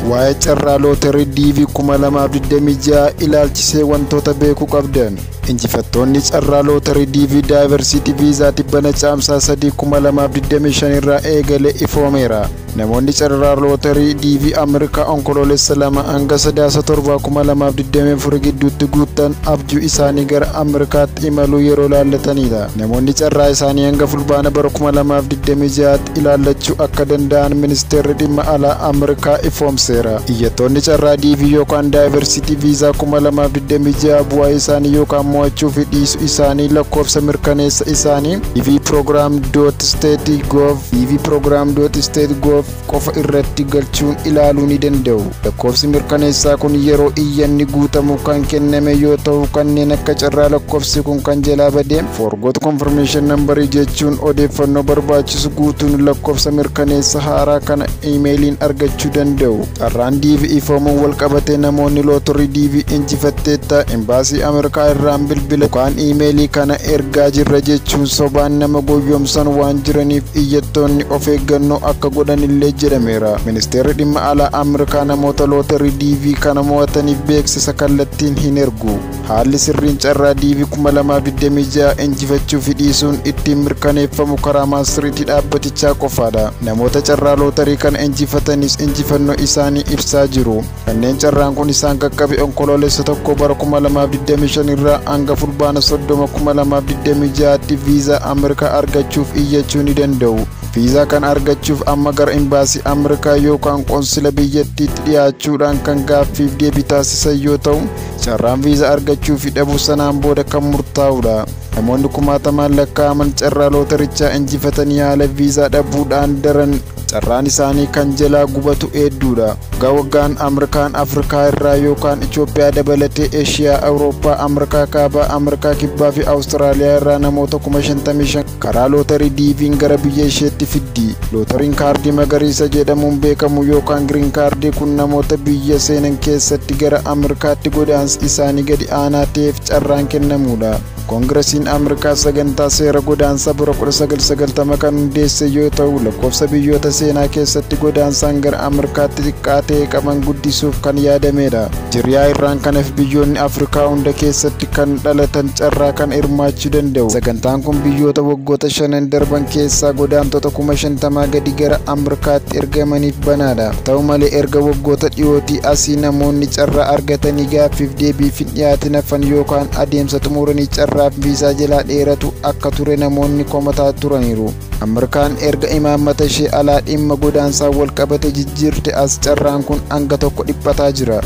Waa'ee carraa looterii DV 2026 ilaalchisee wantoota beekuu qabdan. Injifattoonni carraa looterii DV Daayivarsiitii Viizaa tibbana caamsaa 3 2025 irraa eegale ifoomeera. Namoonni carraa looterii DV Ameerikaa Onkoloolessa 2 hanga Sadaasa 7 2024 gidduutti guuttan abjuu isaanii gara Ameerikaatti imaluu yeroo laallatanidha. Namoonni carraa isaanii hanga Fulbaana bara 2026 ilaallachuu akka danda'an ministeerri dhimma alaa Ameerikaa ifoomseera. Iyyattoonni carraa DV yookaan Diversity Visa 2026 bu'aa isaanii yookaan mo'achuu fi dhiisu isaanii lakkoofsa mirkaneessa isaanii dvprogram.state.gov dvprogram.state.gov qofa irratti galchuun ilaaluu ni danda'u. Lakkoofsi mirkaneessaa kun yeroo iyyanni guutamu kan kenname yoo ta'u kanneen akka carraa lakkoofsi kun kan jalaa badee Forgot confirmation number jechuun odeeffannoo barbaachisu guutuun lakkoofsa mirkaneessa haaraa kana iimeeliin argachuu danda'u. Carraan DV ifoomuun wal qabatee namoonni lootorii DV injifatteetta imbaasii Ameerikaa irraan bilbila yookaan iimeelii kana ergaa jirra jechuun sobaan nama goyyomsan waan jiraniif iyyattoonni of eeggannoo akka godhanillee jedhameera. Ministeerri dhimma alaa Ameerikaa namoota lootorii DV kana mo'ataniif beeksisa kallattiin hin ergu. Haalli sirriin carraa DV 2026 injifachuu fi dhiisuun ittiin mirkaneeffamu karaa maastiriitii dhaabbatichaa qofaadha. Namoota carraa lootarii kana injifatanis injifannoo isaanii ibsaa jiru. Kanneen carraan kun isaan qaqqabe onkoloolessa tokko bara 2025 irraa hanga fulbaana 30 2026tti viizaa Ameerikaa argachuuf iyyachuu ni danda'u. Viizaa kana argachuuf amma gara imbaasii Ameerikaa yookaan qonsila biyyattiitti dhiyaachuudhaan kan gaaffiif deebii taasisan yoo ta'u, Carraan viizaa argachuu fi dhabuu sanaan booda kan murtaa'udha. Namoonni kumaatamaan lakkaa'aman carraa lootarichaa injifatanii haala viizaa dhabuudhaan daran carraan isaanii kan jalaa gubatu hedduudha. Waggaa waggaan Ameerikaan Afrikaa irraa yookaan Itoophiyaa dabalatee Eshiyaa, Awurooppaa, Ameerikaa Kaabaa, Ameerikaa Kibbaa fi Awustiraaliyaa irraa namoota kuma 55 Karaa lootarii DV'n gara biyya isheetti fiddi. Lootariin kaardii magariisa jedhamuun beekamu yookaan giriin kaardii kun namoota biyya seenan keessatti gara Ameerikaatti godaansi isaanii gadi aanaa ta'eef carraan kennamuudha. Koongirasiin Ameerikaa sagantaa seera godaansaa bara 1990 kan hundeesse yoo ta'u, lakkoofsa biyyoota seenaa keessatti godaansaan gara Ameerikaatti xiqqaa ta'e qaban guddisuuf kan yaadamedha. Jiriyaa irraan kanaf biyyoonni Afrikaa hunda keessatti kan dhalatan carraa kan hirmaachuu danda'u. Sagantaan kun biyyoota waggoota shanan darban keessaa godaantota kuma shantamaa gadi gara Ameerikaatti ergamaniif banaadha. Ta'u malee erga waggoota dhiyootii asii namoonni carraa argatanii gaaffiif deebiif hin dhiyaatin hafan yookaan adeemsa xumuranii carraaf viisaa jalaa dheeratu akka ture namoonni komataa turaniiru. Ameerikaan erga imaammata ishee alaa dhimma godaansaan walqabate jijjiirte as carraan kun hanga tokko dhiphataa jira.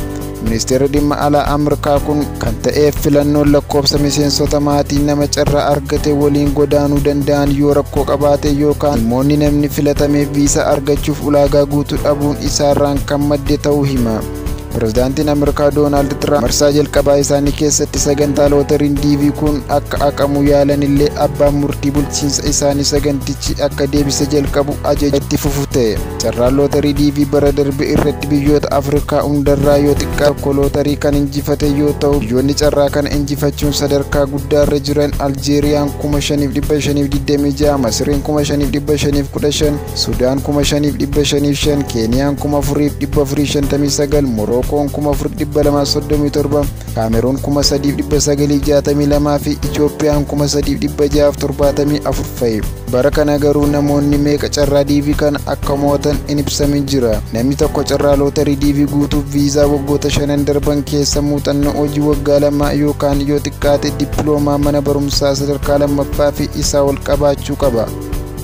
Ministeerri dhimma alaa Ameerikaa kun kan ta'eef filannoon lakkoofsa miseensota maatii nama carraa argate waliin godaanuu danda'an yoo rakkoo qabaate yookaan dhimmoonni namni filatameef viisaa argachuuf ulaagaa guutuu dhabuun isaarraan kan madde ta'uu hima. Pirezidaantiin Ameerikaa Doonaald Tiraamp marsaa jalqabaa isaanii keessatti sagantaa looteriin DV kun akka haqamu yaalanillee abbaan murtii bulchiinsa isaanii sagantichi akka deebise jalqabu ajaja itti fufu ta'e. Carraan looterii DV bara darbe irratti biyyoota Afrikaa hundarraa yoo xiqqaa tokko looterii kan injifate yoo ta'u biyyoonni carraa kana injifachuun sadarkaa guddaarra jiran Aljeeriyaan 5526 Masiriin 5515 Sudaan 5505, Keeniyaan 4459, Morookoon 4237, Kaameruun 3962 fi Itoophiyaan 3674 fa'i. Bara kana garuu namoonni meeqa carraa diivii kana akka mo'atan hin ibsamin jira. Namni tokko carraa lootarii diivii guutuuf viizaa waggoota shanan darban keessa muuxannoo hojii waggaa lamaa yookaan yoo xiqqaate dippiloomaa mana barumsaa sadarkaa lammaffaa fi isaa ol qabaachuu qaba.